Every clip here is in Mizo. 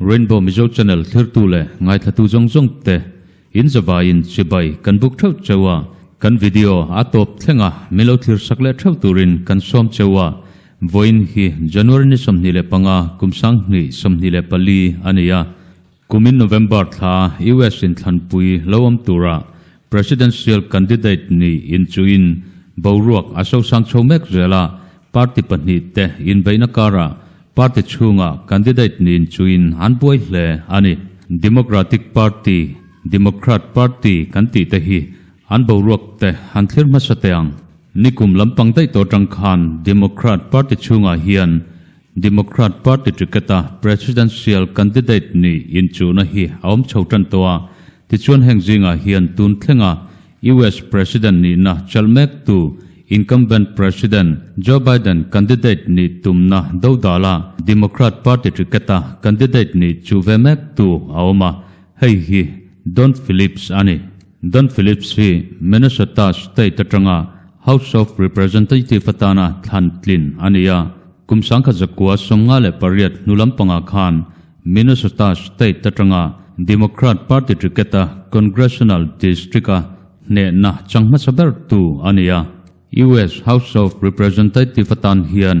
Rainbow Mizo Channel thirtu leh ngaithlatu zawng zawng te in zavai in chibai kan buk theuh cheu a, kan video a tawp thleng a min lo thlir sak leh theuh tur in kan sawm cheu a, vawiin hi January ni sawmhnih leh panga kum sang hni sawmhnih leh pali a ni a, kum in November thla US in thlanpui lo awm tur ah Presidential candidate ni in chu in boruak a sosang chho mek zel a, party pahnih te inbeihna karah party chhunga candidate ni in chu in an buai hle a ni. Democratic Party, Democrat Party kan tih te hi an boruak te han thlir hmasa teh ang. Nikum lampang daih tawh tang khan Democrat Party chhungah hian Democrat Party ticket-a Presidential candidate ni inchuna hi a awm chho tan tawh a, tichuan heng zingah hian tun thlenga US President nihna chalh mektu Incumbent President Joe Biden candidate ni tumna dodala Democrat Party ticket-a candidate ni chu ve mektu a awm a, hei hi Don Phillips a ni. Don Phillips hi Minnesota State atanga House of Representative atana thlan tlin a ni a. Kum sangkhat zakua sawm nga leh pariat hnu lampangah khan Minnesota State atanga Democrat Party Ticket-a Congressional District-a hnehna chang hmasa bertu a ni a. US House of Representative atan hian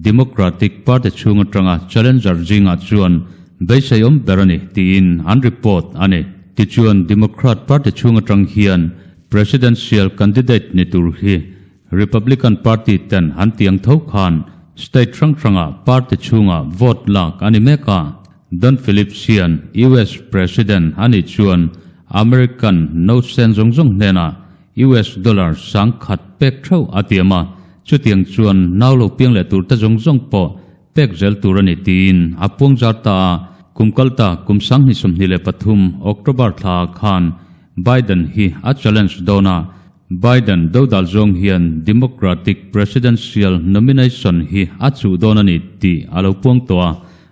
Democratic Party chhung atanga challenger zingah chuan beisei awm ber a ni tiin an report a ni. Tichuan, Democrat Party chhung atang hian Presidential candidate ni tur hi Republican Party ten an tiang tho khan state hrang hranga party chhunga vote lak a ni mek a. Don Phillips hian US President a nih chuan American no sen zawng zawng hnenah US dollar sang khat pek theuh a ti em a, chutiang chuan nau lo piang leh tur te zawng zawng pawh pek zel tur a ni tiin a puang zar ta a. Kum kal ta, kum sang hnih sawmhnih leh pathum, October thla ah khan Biden hi a challenge dawn a, Biden do dal zawng hian Democratic Presidential Nomination hi a chuh dawn a ni tih a lo puang tawh a.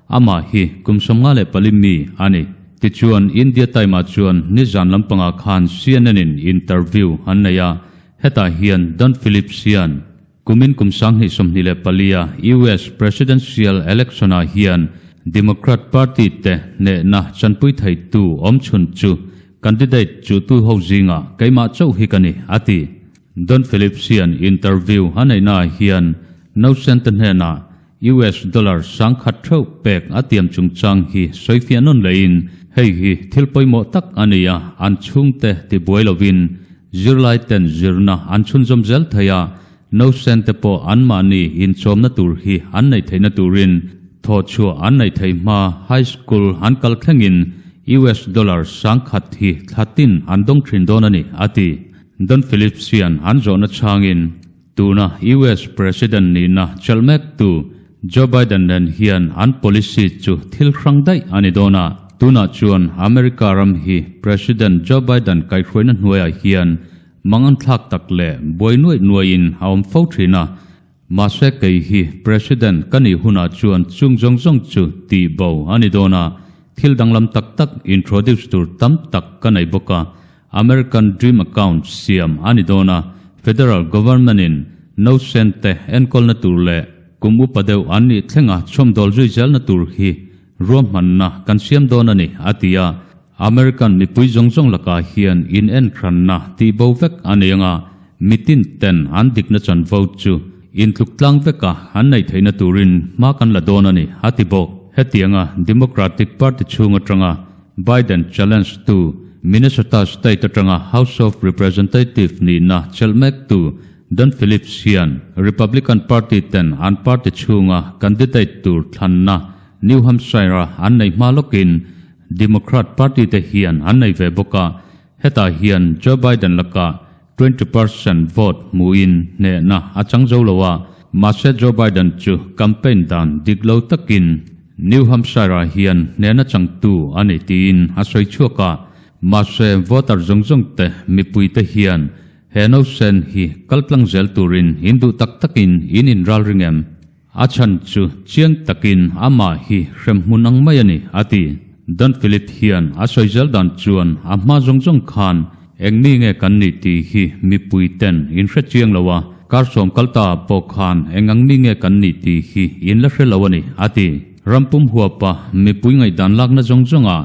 Amah hi kum sawmnga leh pali mi a ni. Tichuan, India Time-a chuan nizan lampangah khan CNN-in interview an nei a, hetah hian Don Phillips hian kumin kum sanghnih sawmhnih leh palia US Presidential election-ah hian Democrat Party te hnehna chanpui theitu awmchhun chu candidate chuhtu ho zingah keimah chauh hi ka ni, a ti. Don Phillips hian interview a neihnaah hian Nocente hnenah US dollar sang khat theuh pek a tiam chungchang hi sawifiah nawn leiin hei hi thil pawimawh tak a ni a, an chhungte ti buai lovin zirlaiten zirna an chhunzawm zel thei a, Nocente pawh anmahni inchawmna tur hi an neih theihna turin thawhchhuah an neih thei hma high school an kal thlengin US dollar sang khat hi thlatin an dawng thin dawn a ni, a ti. Don Phillips hian an zawhna chhangin tuna US President nihna chelh mektu Joe Biden nen hian an policy chu thil hrang daih a ni dawn a. Tunah chuan America ram hi President Joe Biden kaihhruaina hnuaiah hian mangan thlak tak leh buai nuaih nuaihin a awm fo thin a, Mahse kei hi President ka nih hunah chuan chung zawng zawng chu tih bo a ni dawn a, thil danglam tak tak introduce tur tam tak ka nei bawk a, American Dream Account siam a ni dawn a, Federal Government in No Cent te enkawlna tur leh kum upa deuh an nih thlengah chhawmdawl zui zelna tur hi Ruahmanna kan siam dawn a ni, a ti a. American mipui zawng zawng lakah hian inenhranna tih bo vek a nei anga, mitinten an dikna chan vote chu intluk tlang veka an neih theihna turin hma kan la dawn a ni, a ti bawk. Hetianga Democratic Party chhung atanga Biden challenge tu Minnesota state atanga House of Representative nihna chelh mektu Dan Phillips hian Republican Party ten an party chhunga candidate tur thlanna New Hampshire-a an nei hma lawkin Democrat Party te hian an nei ve bawk a, hetah hian Joe Biden laka twenty percent vote hmuhin hnehna a chang zo lo a, mahse Joe Biden chu campaign dan dik lo takin New Hampshire-a hian hnehna changtu a ni tiin a sawi chhuak a, mahse voter zawng zawng te mipui te hian He nosen hi kal tlang zel turin in duh tak takin in inral ring em? A chhan chu chiang takin amah hi hremhmun ang mai a ni, a ti. Don Philip hian a sawi zel dan chuan a hma zawng zawng khan eng mi nge kan nih tih hi mipui ten in hre chiang lo a, kar sawm kal ta ah pawh khan eng ang mi nge kan nih tih hi in la hre lo a ni, a ti. Rampum huapa mipui ngaihdan lakna zawng zawng ah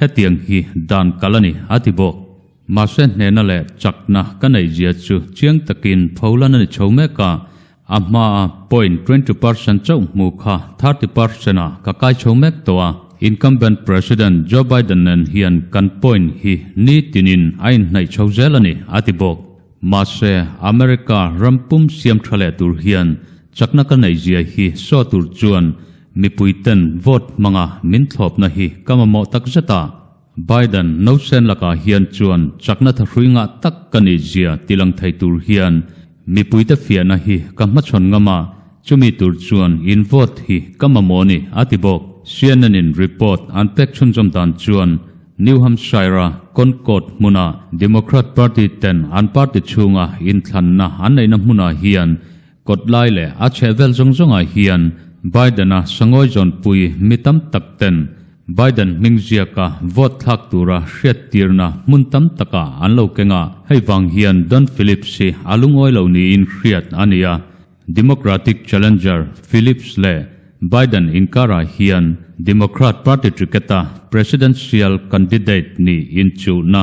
hetiang hi dan kal a ni, a ti bawk. Mahse hnehna leh chakna ka neih zia chu chiang takin folan a ni chho mek a, a hmaa point twenty percent chauh hmu kha thirty percent ah ka kai chho mek tawh a, incumbent President Joe Biden nen hian kan point hi ni tinin a inhnaih chho zel a ni, a ti bawk. Mahse America ram pum siam tha leh tur hian chakna ka neih zia hi saw tur chuan Mipui ten vote hmanga min thlawpna hi ka mamawh tak zet a, Biden no chen lakah hian chuan chakna tha hrui ngah tak ka ni zia ti lang thei tur hian mipuite fiahna hi ka hmachhawn ngam a, chumi tur chuan in vote hi ka mamawh ni a ti bawk. CNN-in report an pek chhunzawm dan chuan New Hampshire-a Concord hmuna Democrat Party ten an party chhunga inthlanna an neihna hmunah hian Kawt lai leh a chheh vel zawng zawngah hian Biden-a sangawi zawnpui mi tam tak ten Biden hming ziaka vote thlak tura hriat tirna hmun tam taka an lo keng a, hei vang hian Don Phillips hi a lungawi lo niin hriat a ni a. Democratic challenger Phillips leh Biden inkarah hian Democrat Party ticket-a presidential candidate nih inchuhna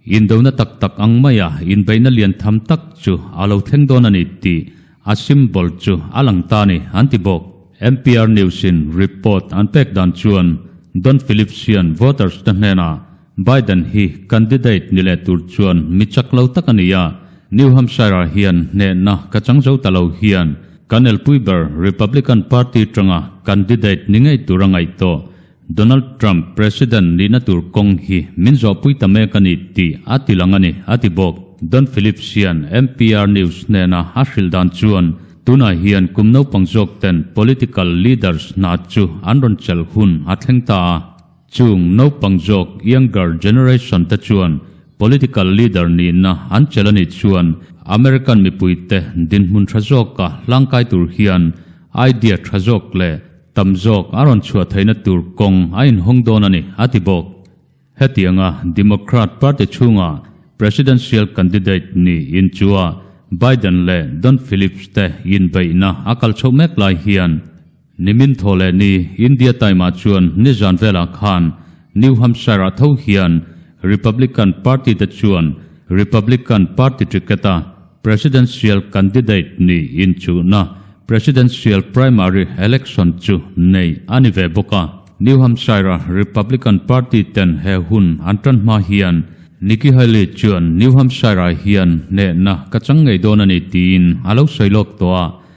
Indona tak tak ang maia inbeihna lian tham tak chu a lo thleng dawn a ni tih a symbol chu a lang ta a ni an ti bawk. Mpr News-in report an pek dan chuan Don Phillips-ian voters-te hnenah Biden hi candidate ni leh tur chuan mi chak lo tak a ni a, New Hampshire-ah hian hnehna ka chang zo ta lo hian kan elpui ber Republican Party tanga candidate ni ngei tur a ngaih tawh Donald Trump President nihna tur kawng hi min zawhpui ta mek a ni tih a ti lang a ni, a ti bawk. Don Phillips hian NPR News hnena a hrilh dan chuan, Tunah hian kum naupang zawkten political leaders hna chu an rawn chelh hun a thleng ta a. Chung naupang zawk, younger generation, te chuan political leader nihna an chel a nih chuan American mipuite dinhmun tha zawka hlangkai tur hian idea tha zawk leh Tam zawk a rawn chhuah theihna tur kawng a inhawng dawn a ni, a ti bawk. Hetianga Democrat Party chhunga Presidential candidate niin chuah Biden leh Don Phillips te inbeihna a kal chhoh mek lai hian nimin thaw leh ni India time-ah chuan nizan velah khan New Hampshire-ah tho hian Republican Party te chuan Republican Party ticket-a Presidential candidate ni inchuhna, Presidential primary election, chu nei a ni ve bawk a. New Hampshire-a Republican Party ten he hun an tan hma hian Nikki Haley chuan New Hampshire-ah hian hnehna ka chang ngei dawn a ni tiin a lo sawi lawk tawh a.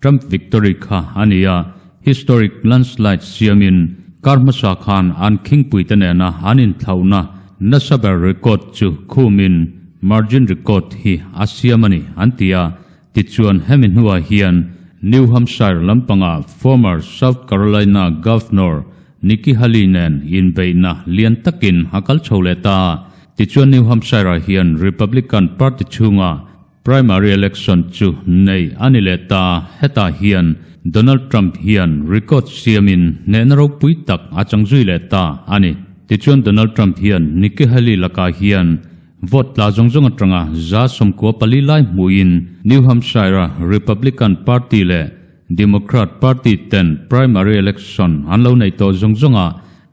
Trump victory kha a ni a, historic landslide siamin kar hmasa khan an khingpui te nena an inthlauhna nasa ber record chu khumin margin record hi a siam a ni an ti a. Tichuan hemi hnuah hian New Hampshire lampanga former South Carolina Governor Nikki Haley nen inbeihna lian takin a kal chho leh ta a, tichuan New Hampshire-ah hian Republican Party chhunga Primary election chu nei a ni leh ta, hetah hian Donald Trump hian record siamin hnehna ropui tak a chang zui leh ta a ni. Tichuan Donald Trump hian Nikki Haley lakah hian vote tla zawng zawng atanga za sawmkua pali lai hmuhin New Hampshire-a Republican Party leh Democrat Party ten primary election an lo nei tawh zawng zawngah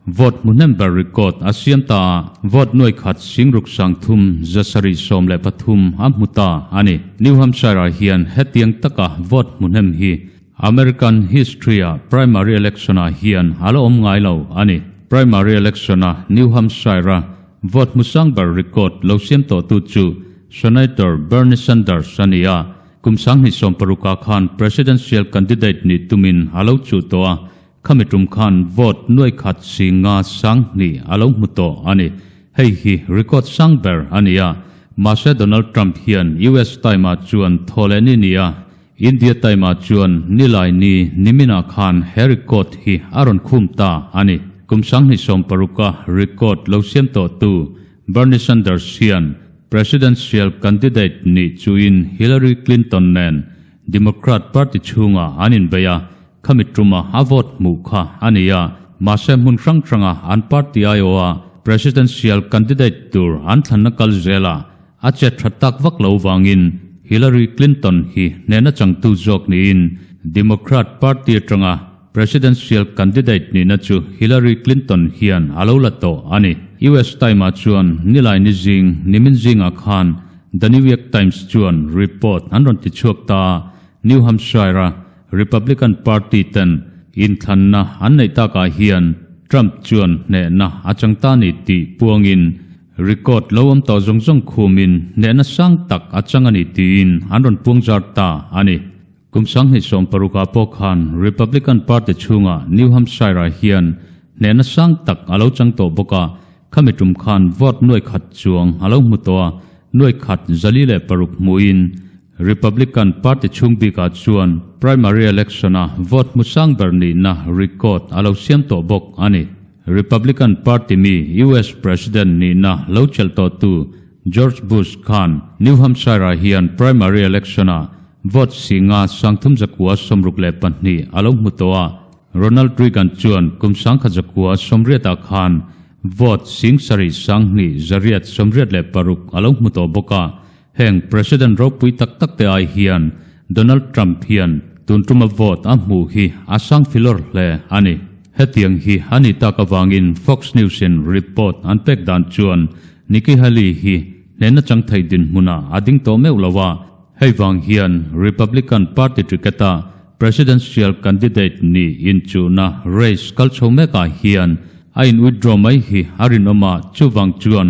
Vote hmuhnem ber record a siam ta a, vote nuai khat Singruk sang thum za sarih sawm leh pathum a hmu ta a ni. New Hampshire-ah hian hetiang taka vote hmuhnem hi American history-a primary election-ah hian a la awm ngai lo a ni. Primary election-a New Hampshire-a vote hmu sang ber record lo siam tawhtu chu Senator Bernie Sanders a ni a, kum sang hnih sawm paruk ah khan presidential candidate nih tumin a lo chuh tawh a, Khami tum khan vote nuai khat si nga sang hni a lo hmu tawh a ni. Hei hi record sang ber a ni a. Mahse Donald Trump hian US time ah chuan thaw leh ni ni a, India time ah chuan ni lai ni ni minah khan he record hi a rawn khum ta a ni. Kum sanghnih sawm paruka record lo siam tawh tu Bernie Sanders hian Presidential candidate nih chuin Hillary Clinton nen Democrat party chhungah an inbeih a, Khami ṭuma a vote hmuh kha a ni a, mahse hmun hrang hranga an party aiawha presidential candidate tur an thlanna kal zel a, a chet ṭha tak vak lo vangin Hillary Clinton hi hnehna changtu zawk niin Democrat party aṭanga presidential candidate nihna chu Hillary Clinton hian a lo la tawh a ni. US Time-a chuan nilai ni zing nimin zingah khan The New York Times chuan report an rawn tichhuak ta a, New Hampshire-a Republican Party ten inthlanna an neih takah hian Trump chuan hnehna a chang ta ni tih puangin record lo awm tawh zawng zawng khumin hnehna sang tak a chang a ni tiin an rawn puang zar ta a ni. Kum sang hnih sawm paruk ah pawh khan Republican Party chhungah New Hampshire ah hian hnehna sang tak a lo chang tawh bawk a, khami tum khan vote nuai khat chuang a lo hmu tawh a, nuai khat zali leh paruk hmuin Republican party chhung bik ah chuan primary election a vote hmu sang ber nihna record a lo siam tawh bawk a ni. Republican party mi US president nihna lo chelh tawh tu George Bush khan New Hampshire ah hian primary election ah vote si nga sang thum zakua sawmruk leh pahnih a lo hmu tawh a, Ronald Reagan chuan kum sangkhat zakua sawmriat ah khan vote sing sarih sanghnih zariat sawmriat leh paruk a lo hmu tawh bawk a, Heng President ropui tak tak te ai hian Donald Trump hian tun tuma vote a hmuh hi a sang filawr hle a ni. Hetiang hi a ni tak avangin Fox News-in report an pek dan chuan Nikki Haley hi hnehna chang thei dinhmunah a ding tawh meuh lo a, hei vang hian Republican Party ticket-a Presidential candidate niin chuhna race kal chho mekah hian a in withdraw mai hi a rinawm a, chuvang chuan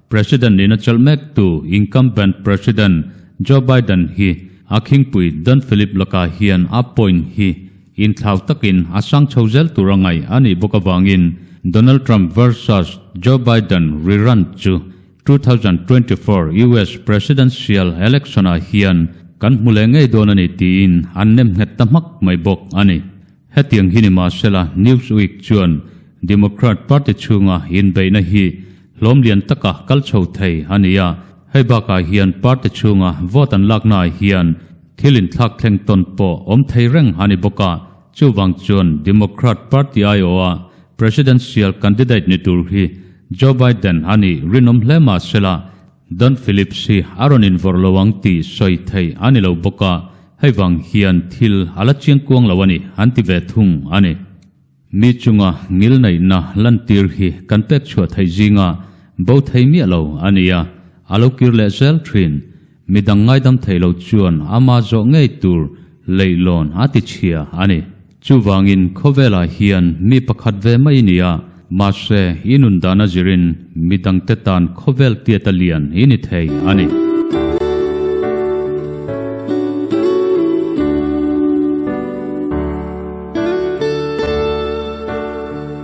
President niin a chelh mek tu Incumbent President Joe Biden hi a khingpui Don Philip lakah hian a point hi inthlau takin a sang chho zel tur a ngaih a nih bawk avangin Donald Trump versus Joe Biden rerun chu two thousand twenty four US Presidential Election-ah hian kan hmu leh ngei dawn a ni tiin an nem nghet ta hmak mai bawk a ni. Hetiang hi ni mahsela Newsweek chuan Democrat Party chhunga inbeihna hi hlawmlian taka kal chho thei a ni a, hei bakah hian party chhunga vote an lakna ah hian thil inthlak thleng tawn pawh awm thei reng a ni bawk a, chuvang chuan Democrat Party aiawha Presidential candidate ni tur hi Joe Biden a nih rinawm hle mahsela Don Phillips hi a rawn invawrh lo ang tih sawi thei a ni lo bawk a, hei vang hian thil a la chiang kuang lo a ni an ti ve thung a ni. Mi chunga ngilneihna lantir hi kan pek chhuah theih zinga bo thei miah lo a ni a, a lo kir leh zel thin. Midang ngaidam thei lo chuan ama zawh ngei tur leihlawn a tichhia a ni. Chuvangin khawvelah hian mi pakhat ve mai ni a, mahse i nun dan a zirin mi dangte tan khawvel tiat a lian i ni thei a ni.